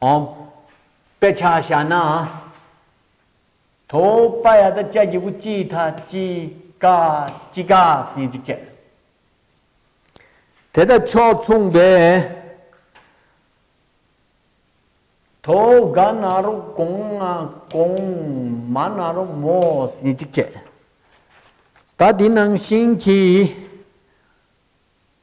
ཨོ། དཔེ་ཆ་བྱ་ན། དོ། པ་ཡ་ད་ཅ་གི་བུ་ཅི་ཐ་ཅི་ཀ་ཅི་ཀ་སི་ཉིན་ཅིག་བྱས། དེ་དང་ཕྱོགས་མཚུངས་པའི། དོ། ག་ན་རུ་གོང་ང་གོང་མ་ན་རུ་མོ་སི་ཉིན་ཅིག་བྱས། ད་དེ་ནང་བཞིན་གྱི།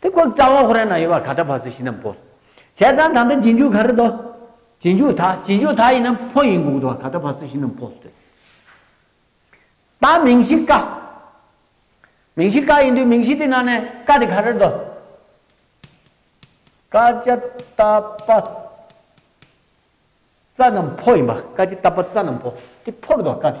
དེ་སྐོར་རྩ་བ་ཧོ་རན་ན་ཡོད་པ་ག་ད་བ་སི་ཤི་ནམ་པོ། བྱས་ཙང་ད་འདི་རྗེས་འཇུག་ག་རི་དོ། རྗེས་འཇུག་ད་རྗེས་འཇུག་ད་ཡིན་ནམ་ཕོ་ཡིན་གུག་དོ་བ་ག་ད་བ་སི་ཤི་ནམ་པོ་སྟོད། ད་མིང་གཞི་ཀ། མིང་གཞི་ཀ་ཡིན་དུས་མིང་གཞི་དེ་ན་ནས་ཀ་དེ་ག་རི་དོ། ཀ་ཅི་ད་པ་ཙ་ནམ་ཕོ་ཡིན་པ་ཀ་ཅི་ད་པ་ཙ་ནམ་ཕོ་དེ་ཕོ་རི་དོ་བ་ཀ་དེ།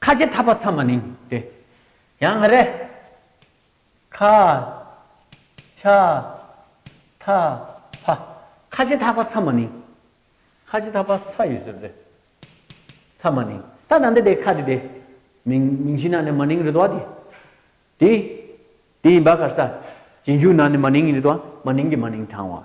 ཁ་ཆེ་ཐག་པ་ཚ་མ་ནིང་སྟེ། ཡང་ང་རེ། ཁ། ཆ། ཐ། ཕ། ཁ་ཆེ་ཐག་པ་ཚ་མ་ནིང། ཁ་ཆེ་ཐག་པ་ཚ་ཡོད་ཟེར་རེད། ཚ་མ་ནིང། ད་ནང་འདི་དེ་ཁ་དེ་དེ། མིང་མིང་གཞི་ནང་ནས་མ་ནིང་རེད་དོ། དེ། དེ་ཡིན་པ་གར་ས། རྗེས་འཇུག་ནང་ནས་མ་ནིང་ཡིན་རེད་དོ། མ་ནིང་གི་མ་ནིང་དྲང་བ།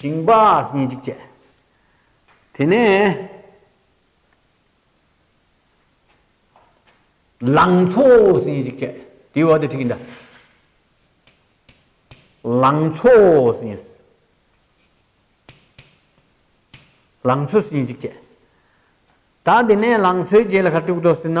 ཞིང་པ་གཉིས་གཅིག་བྱས། དེ་ནས། ལང་ཚོ་གཉིས་གཅིག་བྱས། དེའི་འོག་དེ་ཁྲིད་ཀྱིན་ད། ལང་ཚོ་གཉིས། ལང་ཚོ་གཉིས་གཅིག་བྱས། ད་དེ་ནས་ལང་ཚོའི་རྗེས་ལ་ཁ་དཀྲུག་ཏོ་ཟེར་ན།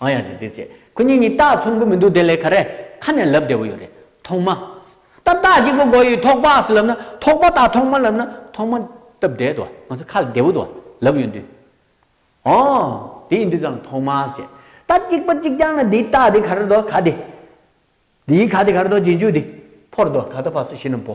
ཨང་ཡང་ཅིག་འདི་ཚེ་ཁོ་གཉིས་གཉིས་སྟག་ཚོམ་གི་མི་འདུག་དེ་ལས་ག་རེ་ཁ་ནས་ལབ་བདེ་བོ་ཡོད་རེད་ཐོག་མ་སྟག་སྟག་གཅིག་པོ་མགོ་ཡི་ཐོག་པགས་སུ་ལབ་ན་ཐོག་པ་དང་ཐོག་མ་ལབ་ན་ཐོག་མ་སྟབས་བདེ་དོ་ང་ཚོ་ཁ་ལ་བདེ་བོ་དོ་ལབ་ཡོད་དུས། ཨོང། དེ་ཡིན་དུས་ཙང་ཐོག་མ་ཞེས་སྟག་གཅིག་པ་གཅིག་རྐྱང་ན་དེའི་སྟག་དེ་ག་རེ་རྡོ་ག་དེ། དེའི་ག་དེ་ག་རེ་རྡོ་རྗེས་འཇུག་དེ་ཕོར་རྡོ་ད་ལྟ་བར་སུ་ཞིག་ན་བོ།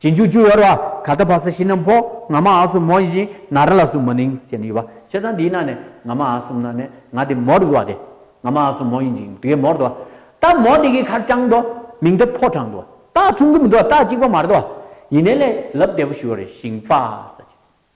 གཅིག་འཇུག་ཅུ་ཡོར་བ་ག་ལྟ་བ་ས་ཤི་ནམ་ཕོ་ང་མ་ཨ་སུ་མོ་ཡིན་ཞིང་ན་ར་ལ་སུ་མོ་ནིང་ཞེས་ནི་ཡོད་པ་ཁྱེད་ཚང་འདིའི་ནང་ནས་ང་མ་ཨ་སུམ་ན་ནས་ང་དེ་མོར་འདུག་བ་དེ་ང་མ་ཨ་སུ་མོ་ཡིན་ཅིང་དེ་གས་མོར་འདུག་བ་ད་མོ་དེ་གས་ཁར་དྲང་འདུག་མིང་དེ་ཕོ་དྲང་འདུག་བ་ད་ཚུང་གི་མི་འདུག་བ་ད་གཅིག་པ་མར་འདུག་བ་ཡིན་ནས་ལས་ལབ་བདེ་པོ་ཞུ་བ་རེད་ཞིང་པ་ས་ཆེན།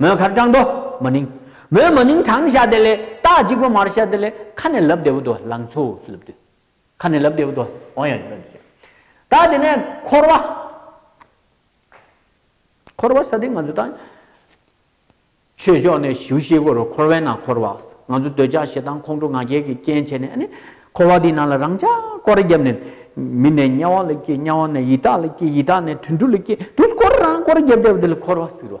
མོའི་ཁར་སྐྲངས་དོ་མ་ནིང། མོའི་མ་ནིང་གྲང་ཤ་དེ་ལས་སྟག་གཅིག་པོ་མར་ཤ་དེ་ལས་ཁ་ནས་ལབ་བདེ་བོ་དོ་ལང་ཚོ་སུ་ལབ་དུས། ཁ་ནས་ལབ་བདེ་བོ་དོ་འོང་ཡ་ཡོད་ཟེར། ད་དེ་ནས་འཁོར་བ། འཁོར་བ་ས་དེ་ང་ཚོ་ད། ཆོས་ཕྱོགས་ནས་ཞུ་ཤེས་གོ་རུ་འཁོར་བའི་ནང་འཁོར་བ། ང་ཚོ་འདོད་ཆགས་ཞེ་སྡང་ཁོང་ཁྲོ་ང་རྒྱལ་གྱི་རྐྱེན་བྱས་ནས་ཨ་ནི། འཁོར་བ་དེའི་ནང་ལ་རང་ཅག་སྐོར་བརྒྱབ་ནས། མི་ནས་དམྱལ་བ་ལ་སྐྱེ་དམྱལ་བ་ནས་ཡི་དྭགས་ལ་སྐྱེ་ཡི་དྭགས་ནས་དུད་འགྲོ་ལ་སྐྱེ་དུད་འགྲོ་སྐོར་རང་སྐོར་བརྒྱབ་བདེ་བོ་དེ་ལ་འཁོར་བ་ཟེར་བ།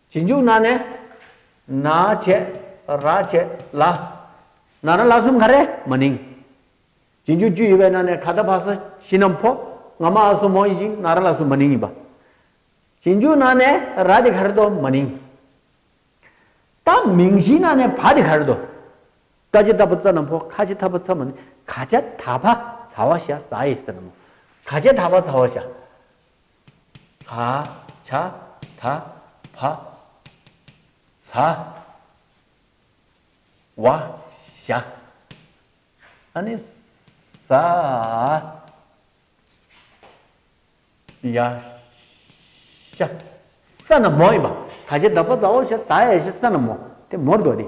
ཇི་འཇུག་ན་ནས། ན་བྱས། ར་བྱས། ལ། ན་ར་ལ་གསུམ་ག་རེ་མ་ནིང། ཇི་འཇུག་བཅུ་ཡི་བའི་ན་ནས་ག་ད་བྷ་ས་ཤི་ནམ་ཕོ་ང་མ་ཨ་སོ་མོ་ཡི་ཅིང་ན་ར་ལ་གསུམ་མ་ནིང་ཡིན་པ། ཇི་འཇུག་ན་ནས་ར་དེ་ག་རེ་དོ་མ་ནིང། ད་མིང་གཞི་ན་ནས་བྷ་དེ་ག་རེ་དོ། ཀ་ཅི་ད་བྷ་ཙ་ནམ་ཕོ་ཁ་ཅི་ད་བྷ་ཚ་མ་ནིང་ག་ཅ་ད་བྷ་ཚ་བ་ཤ་ཟ་ཡི་ས་ན་མོ་ག་ཅ་ད་བྷ་ཚ་བ་ཤ། བ། བྱ། ད། བ། ཚ། བ། ཤ། ཨ་ནི། ཟ། ཡ། ཤ། ས་ན་མོ་ཡིན་པ། ད་ཆ་བདག་པོ་བཟའོ་ཤ་ཟ་ཡ་ཤ་ས་ན་མོ། དེ་མོར་འདོགས་ཏེ།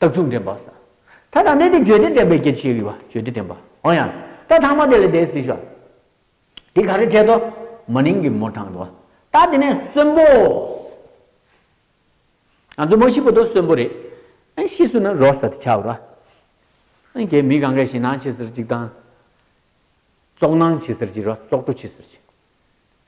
རྟགས་ཚུལ་འདྲེན་པ། ས་ཐག་དང་གནས་དེ་བརྗོད་དེ་འདྲེན་པའི་སྐྱེད་བྱེད་དབྱི་བ་བརྗོད་དེ་འདྲེན་པ། འོང་ཡང། རྟགས་ཐང་མ་དེ་ལས་དེའི་སྲིད་ཞོ། དེ་ག་རེ་བྱེད་དོ། མ་ནིང་གི་མོ་དྲངས་དོ། རྟགས་དེ་ནས་གསོན་པོ། ང་ཚོ་མོ་ཤི་པོ་དོ་གསོན་པོ་རེད། ཨེ་ཤི་སུ་ན་རོ་ས་ཏི་ཆག་རོ། ཨེ་གེ་མི་གང་གེ་ཞི་ནང་ཆི་སིར་ཅིག་དང། ཙོག་ནང་ཆི་སིར་ཅི་རོ་ཙོག་ཏྲོ་ཆི་སིར་ཅི།